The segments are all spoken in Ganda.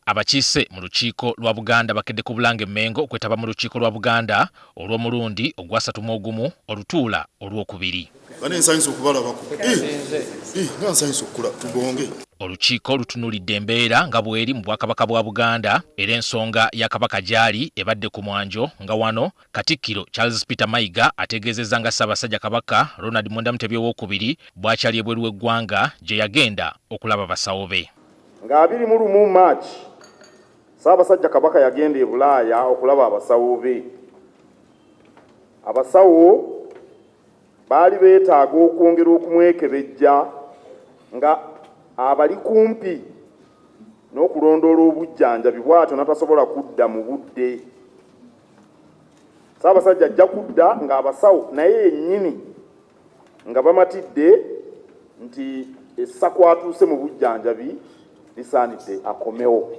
Abakiise mu lukiiko lwa Buganda bakedde ku Bulange Mmengo okwetaba mu lukiiko lwa Buganda olw'omulundi ogwasatu mu ogumu olutuula olw'okubiri. Olukiiko lutunulidde embeera nga bweri mu Bwakabaka bwa Buganda era ensonga ya Kabaka gyali ebadde ku mwanjo nga wano Katikkiro Charles Peter Mayiga ategeezezza nga Ssaabasajja Kabaka Ronald Mwenda Mutebi ow'okubiri bw'akyali ebweru w'eggwanga gye yagenda okulaba basawo be. Nga abiri mu lumu March, Ssaabasajja Kabaka yagenda e Bulaaya okulaba abasawo be. Abasawo baali beetaaga okwongera okumwekebejja nga abali kumpi n'okulondoola obujjanjabi bw'atyo natasobola kudda mu budde. Ssaabasajja ajja kudda ng'abasawo naye yennyini nga bamatidde nti essa kwatuuse mu bujjanjabi lisaanidde akomewo.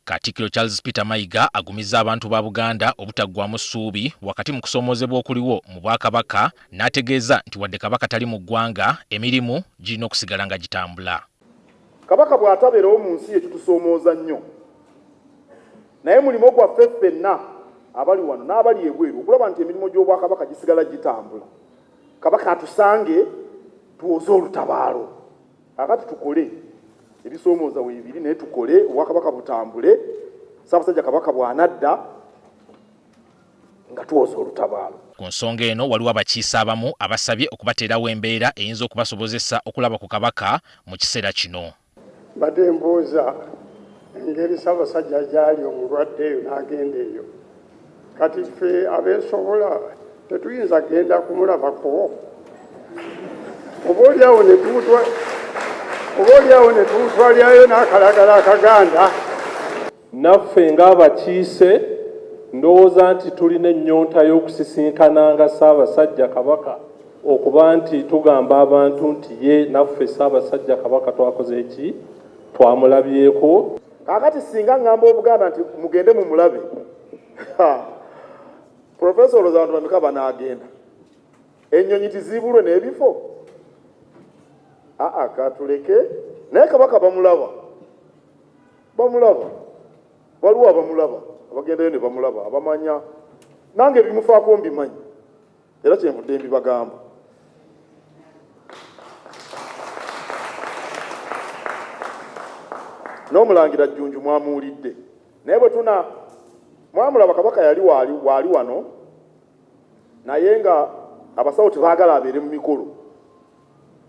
Katikkiro Charles Peter Mayiga agumizza abantu ba Buganda obutaggwamu ssuubi wakati mu kusoomoozebwa okuliwo mu Bwakabaka n'ategeeza nti wadde Kabaka tali mu ggwanga, emirimu girina okusigala nga gitambula. Kabaka bw'atabeerawo mu nsi ye kitusoomooza nnyo, naye mulimo gwaffe ffenna abali wano n'abali ebweru okulaba nti emirimu gy'Obwakabaka gisigala gitambula. Kabaka atusange tuwoze olutabaalo. Kaakati tukole ebisoomooza weebiri naye tukole Obwakabaka butambule. Ssaabasajja Kabaka bw'anadda. nga tuwoza olutabaalo. Ku nsonga eno waliwo abakiise abamu abasabye okubateerawo embeera eyinza okubasobozesa okulaba ku Kabaka mu kiseera kino. Mbadde mbuuza engeri Ssabasajja gyali omulwadde eyo n'agenda eyo. Kati ffe abeesobola tetuyinza genda kumulabako oba olyawo oba olyawo ne tuwutwalyayo n'akalagala akaganda Naffe ng'abakiise ndowooza nti tulina ennyonta y'okusisinkananga Ssaabasajja Kabaka okuba nti tugamba abantu nti ye naffe Ssaabasajja Kabaka twakoze ki? Twamulabyeko. Kaakati ssinga ngamba Obuganda nti mugende mumulabe, ha, Professor olowooza bantu bameka banaagenda? Ennyonyi tiziibulwe n'ebifo? Aa, katuleke. Naye Kabaka bamulaba. bamulaba waliwo abamulaba abagendayo ne bamulaba abamanya nange ebimufaako mbimanyi era kyenvudde mbibagamba n'omulangira jjunju mwamuwulidde naye bwe tuna mwamulaba kabaka yali waali waali wano naye nga abasawo tebaagala abeere mu mikolo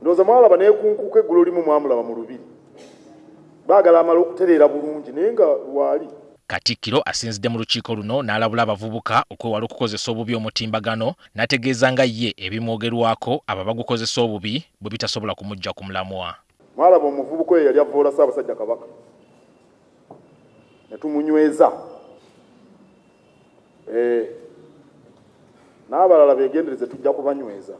ndowooza mwalaba naye kunkuuka eggulo limu mwamulaba mu lubiri baagala amala okutereera bulungi naye nga lwali Katikkiro asinzidde mu lukiiko luno n'alabula abavubuka okwewala okukozesa obubi omutimbagano n'ategeeza nga ye ebimwogerwako abo abagukozesa obubi bwe bitasobola kumuggya ku mulamwa. Mwalaba omuvubuka oyo yali avvoola Ssaabasajja Kabaka ne tumunyweza eh, n'abalala begendereze tujja kubanyweza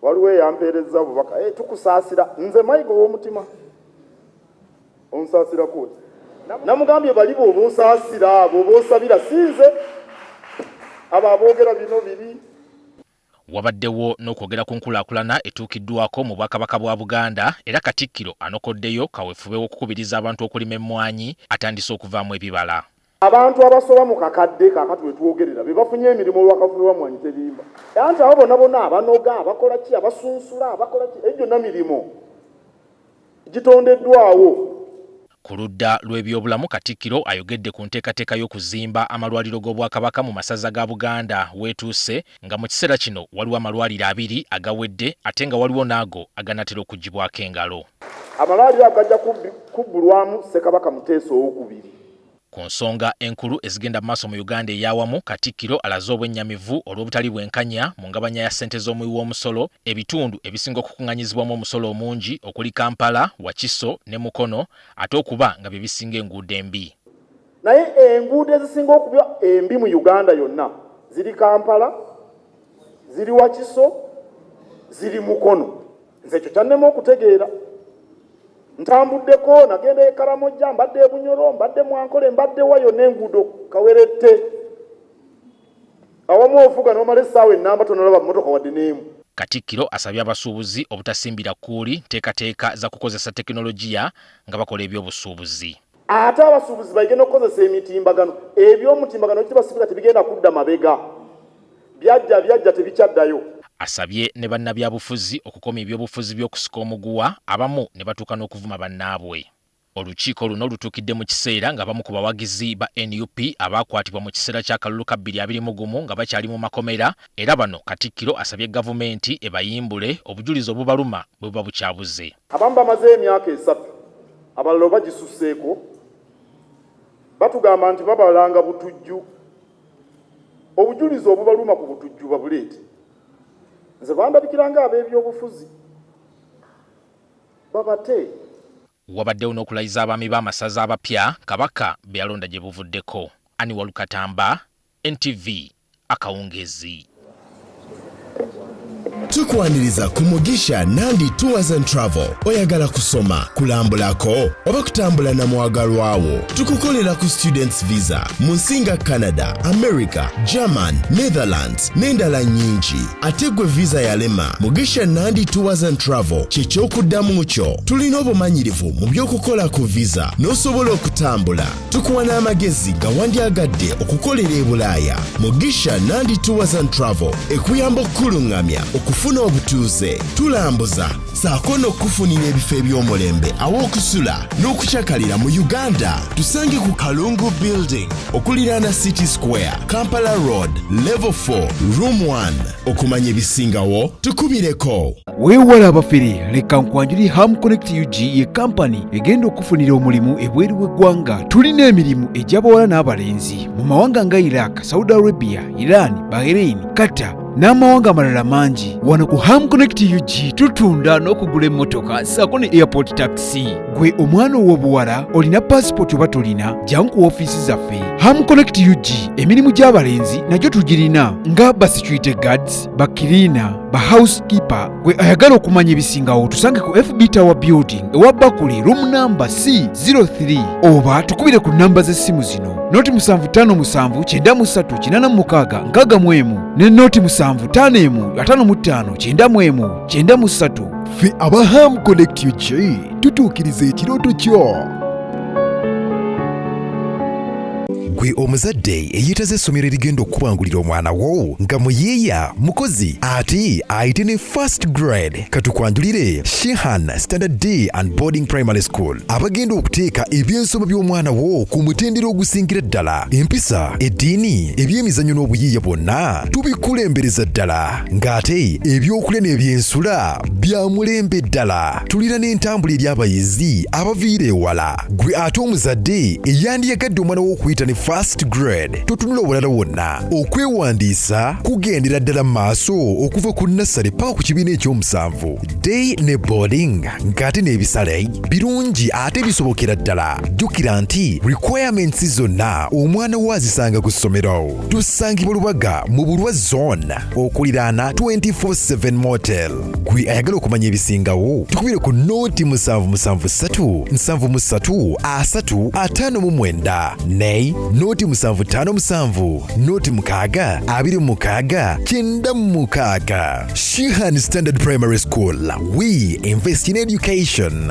waliwo eyampeerezza obubaka eh, tukusaasira nze mayiga ow'omutima onsaasira kuuti namugambye bali bwoba osaasira bwoba osabira sinze abo aboogera bino biri Wabaddewo n'okwogera ku nkulaakulana etuukiddwako mu Bwakabaka bwa Buganda era Katikkiro anokoddeyo kawefube w'okukubiriza abantu okulima emmwanyi atandise okuvaamu ebibala. Abantu abasoba mu kakadde kakati wetwogerera bebafunye emirimu olwa kawefube wa Mmwanyi Terimba anti abo bona bona abanoga, abakola ki, abasunsula, abakola ki ejo gyonna mirimu. gitondeddwawo. Ku ludda lw'ebyobulamu Katikkiro ayogedde ku nteekateeka y'okuzimba amalwaliro g'Obwakabaka mu masaza ga Buganda w'etuuse nga mu kiseera kino waliwo amalwaliro abiri agawedde ate nga waliwo n'ago aganaatera okuggyibwako engalo. Amalwaliro ago gajja kubbulwamu Ssekabaka Muteesa ow'okubiri. Ku nsonga enkulu ezigenda mu maaso mu Uganda ey'awamu, Katikkiro alaze obwennyamivu olw'obutali bwenkanya mu ngabanya ya ssente z'omuwi w'omusolo, ebitundu ebisinga okukunganyizibwamu omusolo omungi okuli Kampala, Wakiso ne Mukono ate okuba nga bye bisinga enguudo embi. Naye enguudo ezisinga okuba embi mu Uganda yonna ziri Kampala, ziri Wakiso, ziri Mukono. nze ekyo kyannema okutegeera ntambuddeko nagenda ekaramojja mbadde ebunyoro mbadde mwankole mbadde wayo nenguudo kawerette awamu ovuga nomala essaawa enamba tonalaba mumotoka wadde neemu katikkiro asabye abasuubuzi obutasimbira kuuli nteekateeka za kukozesa tekinologiya nga bakola ebyobusuubuzi ate abasuubuzi baige n'okukozesa emitimbagano eby'omutimbagano ekiti basibuza tebigenda kudda mabega byajja byajja tebikyaddayo asabye ne bannabyabufuzi okukomya ebyobufuzi by'okusika omuguwa abamu ne batuuka n'okuvuma bannaabwe olukiiko luno lutuukidde mu kiseera ng'abamu ku bawagizi ba nup abaakwatibwa mu kiseera ky'akalulu ka 2021 nga bakyali mu makomera era bano katikkiro asabye gavumenti ebayimbule obujulizi obubaluma bwe buba bukyabuze abamu bamaze emyaka esatu abalala oba gisuseeko batugamba nti babalanga butujju obujulizi obubaluma ku butujju babuleete nze bandabikiranga ab'ebyobufuzi babate wabaddewo n'okulayiza abaami b'amasaza abapya kabaka be yalonda gye buvuddeko ani walukatamba ntv akawungeezi. Tukwaniriza ku Mugisha Nandi Tours and Travel. Oyagala kusoma, kulambulako oba kutambula na mwagalwa wo? Tukukolera ku students visa mu nsi nga Canada, America, German, Netherlands n'endala nyingi. Ate gwe visa yalema, Mugisha Nandi Tours and Travel kye ky'okuddamu kyo. Tulina obumanyirivu mu by'okukola ku visa n'osobola okutambula. tukuwa n'amagezi gawandyagadde okukolera e bulaaya mugisha nandi tours and travel ekuyamba okukuluŋŋamya okufuna obutuuze tulambuza saako n'okukufunira ebifo eby'omulembe aw'okusula n'okucakalira mu uganda tusange ku kalungu building okuliraana city square kampala road level 4 room 1 okumanya ebisingawo tukubireko weewala abafere leka nkwanjuli ham connect ug ye kampani egenda okufunira omulimu ebweru w'eggwanga tulina emirimu egy'abawala n'abalenzi mu mawanga nga iraq saudi arabia iran bahrain qatar n'amawanga amalala mangi wano ku ham connect ug tutunda n'okugula emmotoka saako ne airport taxi gwe omwana ow'obuwala olina paasipooti oba tolina jangu ku ofiisi zaffe ham connect ug emirimu gy'abalenzi nagyo tugirina nga basecurity guards bakiriina ba housekeeper gwe ayagala okumanya ebisingawo tusange ku fb tower building ewa bakuli room number c 03 oba tukubire ku namba z'essimu zino noti 75593866 ne noti 75155953 fe aba ham connect ug tutuukiriza ekirooto kyo gwe omuzadde eyeetaze essomero erigenda okukubangulira omwana wo nga muyiiya mukozi ate ayite ne first grade katukwanjulire shehan standard d and boarding primary school abagenda okuteeka ebyensoma by'omwana wo ku mutendera ogusingira ddala empisa eddiini ebyemizannyo n'obuyiiya bwonna tubikulembereza ddala ng'ate ebyokulya n'ebyensula bya mulembe ddala tulina n'entambula eri abayizi abaviira ewala gwe ate omuzadde eyandiyagadde omwana w'okuyita ne fast grade totunula obulala wonna okwewandiisa kugendera ddala mu maaso okuva ku nassale paka ku kibiina ekyomusanvu day ne boarding ng'ate n'ebisale birungi ate bisobokera ddala jjukira nti requirements zonna omwana wo azisanga ku ssomero tusangibwa lubaga mu bulwa zone okuliraana 24/7 motel gwe ayagala okumanya ebisingawo tukubire ku nooti musanvu musanvu ssatu nsanvu mu ssatu asatu ataano mu mwenda nay nooti musanvu ttaano musanvu nooti mukaaga abiri mu mukaaga kyenda mu mukaaga shihan standard primary school we invest in education